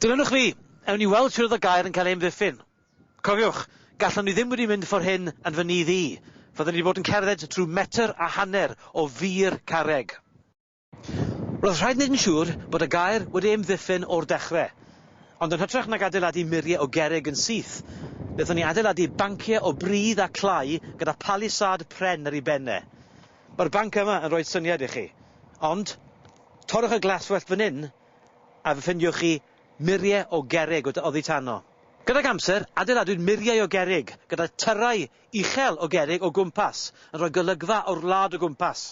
Dilynwch fi! Ewn ni weld shwd oedd y gair yn cael ei amddiffyn. Cofiwch, gallwn ni ddim wedi mynd ffor hyn yn fy nydd i. Fyddwn ni wedi bod yn cerdded drwy metr a hanner o fur carreg. Roedd rhaid wneud yn siŵr bod y gaer wedi ei amddiffyn o'r dechrau. Ond yn hytrach nag adeiladu muriau o gerrig yn syth, wnaethon ni adeiladu banciau o bridd a clai gyda palisâd pren ar ei ben e. Mae'r banc yma yn rhoi syniad i chi. Ond, torrwch y glaswellt fan hyn a fe ffeindiwch chi muriau o gerrig oddi tano. Gydag amser, adeiladwyd muriau o gerrig gyda thyrrau uchel o gerrig o gwmpas, yn rhoi golygfa o'r wlad o gwmpas.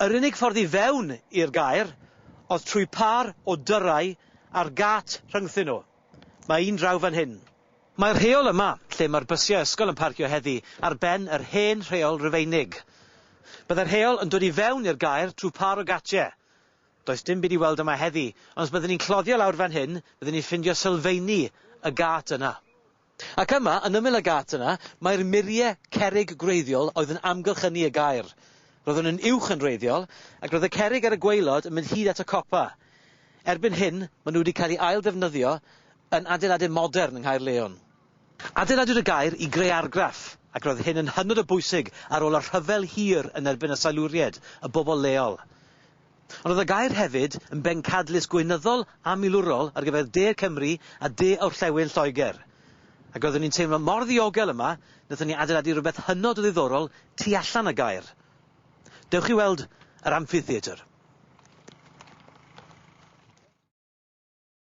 Yr unig ffordd i fewn i'r gaer oedd trwy pâr o dyrau a'r gât rhyngthyn nhw. Mae un draw fan hyn. Mae'r rheol yma, lle mae'r bysiau ysgol yn parcio heddi, ar ben yr hen rheol Rufeinig. Byddai'r rheol yn dod i fewn i'r gaer trwy pâr o gatiau. Does dim byd i weld yma heddi, ond os byddwn ni'n cloddio lawr fan hyn, byddwn ni'n ffindio sylfeini y gât yna. Ac yma, yn ymyl y gât yna, mae'r murie cerrig gwreiddiol oedd yn amgylchynu y gaer. Roeddwn yn uwch yn wreiddiol, ac roedd y cerrig ar y gwaelod yn mynd hyd at y copa. Erbyn hyn, maen nhw wedi cael eu ail-ddefnyddio yn adeiladau modern yng Nghaerleon. Adeiladwyd y gaer i greu argraff, ac roedd hyn yn hynod o bwysig ar ôl y rhyfel hir yn erbyn y Siluriaid, y bobl leol. Ond oedd y gaer hefyd yn bencadlys gweinyddol a milwrol ar gyfer De Cymru a De Orllewin Lloegr. Ac roeddwn i'n teimlo mor ddiogel yma, wnaethon ni adeiladu rhywbeth hynod o ddiddorol tu allan y gaer. Dewch i weld yr Amphitheatre.